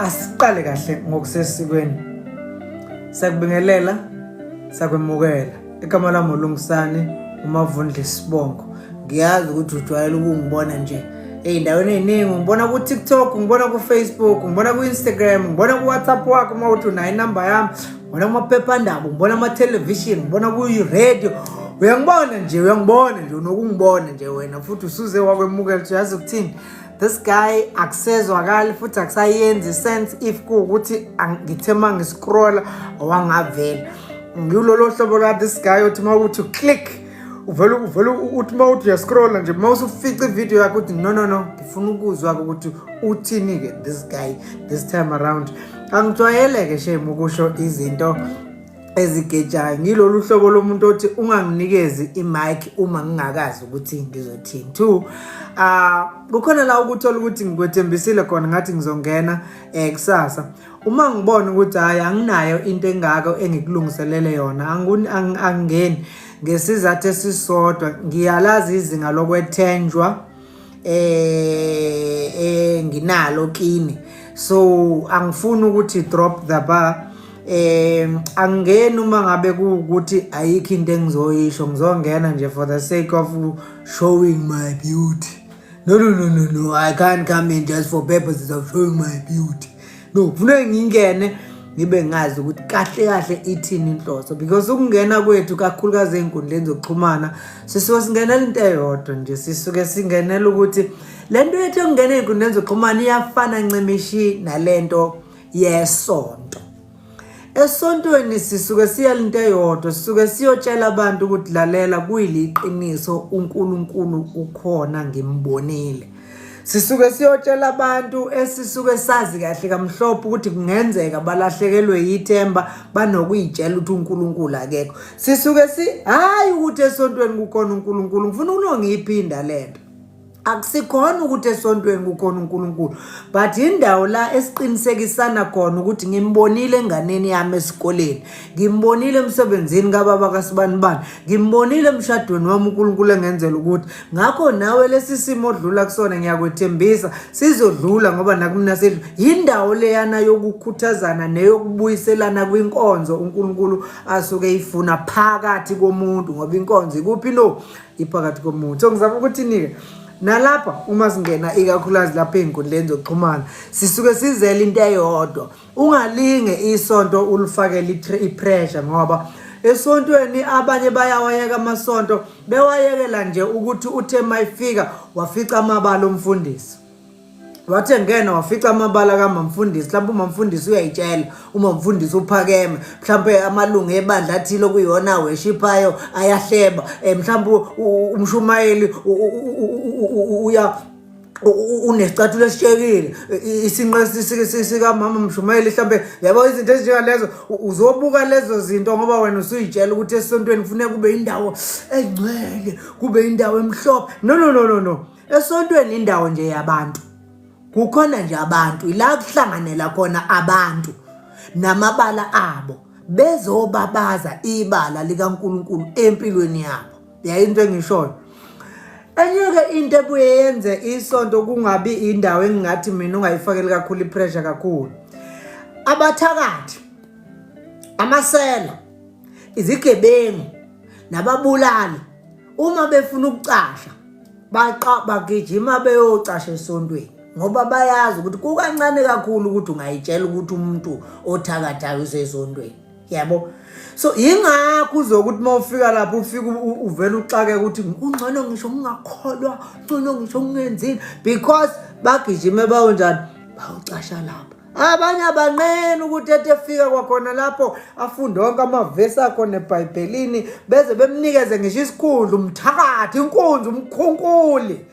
asiqale kahle ngokusesikweni sakubingelela sakwemukela igama lami ulungisane umavundla isibongo ngiyazi ukuthi ujwayele ukungibona nje ey'ndaweni ey'ningi ngibona ku-tiktok ngibona ku-facebook ngibona ku-instagram ngibona ku-whatsapp wakho uma uthi unayo inamba yami ngibona kumaphephandaba ngibona amathelevishini ngibona kuyi-radio uyangibona nje uyangibona nje unokungibona nje wena futhi usuze wakwemukela uthi yazi ukuthini this guy akusezwakali futhi akusayenzi sense if kuwukuthi ngithe uma ngiscrolla wangavela ngilolo hlobo la this guy othi uma ukuthi click uvele uvele uthi uma uthi uyascrolla nje uma usufica ividiyo yakho uthi no no no ngifuna ukuzwa-ke ukuthi uthini-ke this guy this time around angijwayele-ke shame ukusho izinto ezigejayo ngilolu hlobo lomuntu othi unganginikezi i-mic uma ngingakazi ukuthi ngizothini two ah kukhona la ukuthola ukuthi ngikwethembisile khona ngathi ngizongena eh kusasa uma ngibona ukuthi hayi anginayo into engako engikulungiselele yona angingeni ngesizathu esisodwa ngiyalazi izinga lokwethenjwa eh eh nginalo kini so angifuni ukuthi drop the bar eh angeni uma ngabe kuukuthi ayikho into engizoyisho ngizongena nje for the sake of showing my beauty no no no no no i can't come in just for purposes of showing my beauty no kufuneka ngingene ngibe ngazi ukuthi kahle kahle ithini inhloso because ukungena kwethu kakhulukazi ey'nkundleni zokuxhumana sisuke singenela into eyodwa nje sisuke singenela ukuthi le nto yethu yokungena ey'nkundleni zokuxhumana iyafana ncimishi nale nto yesonto esontweni sisuke siya linto eyodwa sisuke siyotshela abantu ukuthi lalela kuyiliqiniso uNkulunkulu ukhona ngimbonile sisuke siyotshela abantu esisuke sazi kahle kamhlophe ukuthi kungenzeka balahlekelwe yithemba banokuyitshela ukuthi uNkulunkulu akekho sisuke si hayi ukuthi esontweni kukhona uNkulunkulu ngifuna unongiyiphinda lento akusikhona ukuthi esontweni kukhona uNkulunkulu but indawo la esiqinisekisana khona ukuthi ngimbonile enganeni yami esikoleni ngimbonile emsebenzini kababa kasibani bani ngimbonile emshadweni wami uNkulunkulu engenzela ukuthi ngakho nawe lesi simo odlula kusona ngiyakwethembisa sizodlula ngoba nakumina sedlu yindawo leyana yokukhuthazana neyokubuyiselana kwinkonzo uNkulunkulu asuke ifuna phakathi komuntu ngoba inkonzo ikuphi no iphakathi komuntu so ngizama ukuthi nike nalapha uma singena ikakhulukazi lapha ey'nkundleni zokuxhumana sisuke sizela into eyodwa Ungalinge isonto ulifakele ipressure ngoba esontweni abanye bayawayeka amasonto bewayekela nje ukuthi uthe mayifika wafica amabala omfundisi wathi engena wafica amabala kamamfundisi mhlawumbe umamfundisi uyayitshela umamfundisi uphakeme mhlawumbe amalungu ebandla athile okuyona aweshiphayo ayahleba um mhlawumbe umshumayeli uya unesicathulo esishekile isinqa sikamama mshumayeli mhlawumbe yabo izinto ezinjengalezo uzobuka lezo zinto ngoba wena usuyitshela ukuthi esontweni kufuneka kube indawo engcwele kube indawo emhlophe no no no no no esontweni indawo nje yabantu kukhona nje abantu ila kuhlanganela khona abantu namabala abo bezobabaza ibala likaNkuluNkulu empilweni yabo yayinto engishoyo enye-ke into ebuye yenze isonto kungabi indawo engingathi mina ungayifakeli kakhulu ipressure kakhulu abathakathi amasela izigebengu nababulali uma befuna ukucasha baqa bagijima beyocasha esontweni ngoba bayazi ukuthi kukancane kakhulu ukuthi ungayitshela ukuthi umuntu othakathayo usesontweni yabo so yingakho uzokuthi uma ufika lapho ufike uvele uxake ukuthi ungcono ngisho ngingakholwa ungcono ngisho ngingenzini because bagijime bawunjani bawucasha lapho abanye abanqeni ukuthi ethi efika kwakhona lapho afunde wonke amavesi akhona ebhayibhelini beze bemnikeze ngisho isikhundla umthakathi inkunzi umkhunkuli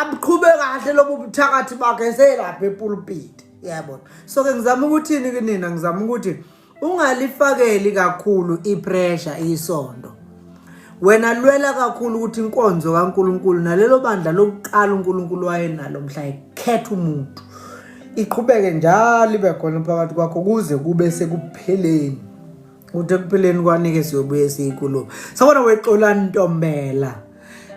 abuqhube kahle lobu buthakathi bakhe selapha epulpiti yabona so ke ngizama ukuthini kunina ngizama ukuthi ungalifakeli kakhulu ipressure isondo wena lwela kakhulu ukuthi inkonzo kaNkuluNkulu nalelo bandla lokuqala uNkuluNkulu wayenalo mhla ekhetha umuntu iqhubeke njalo ibe khona phakathi kwakho kuze kube sekupheleni ukuthi ekupheleni kwanike siyobuye siyikulo sabona wexolani ntombela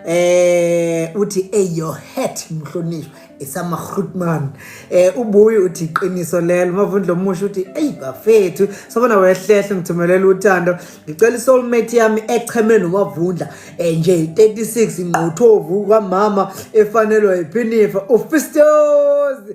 eh uthi hey your hat mhlonishwa isama Grootman eh ubuyi uthi iqiniso lelo mavundlo omusha uthi hey bafethu sobona wehlehle ngithumelela uthando ngicela isoul mate yami echeme nomavundla eh nje 36 ingqothovu kwamama efanelwa iphinifa ufistozi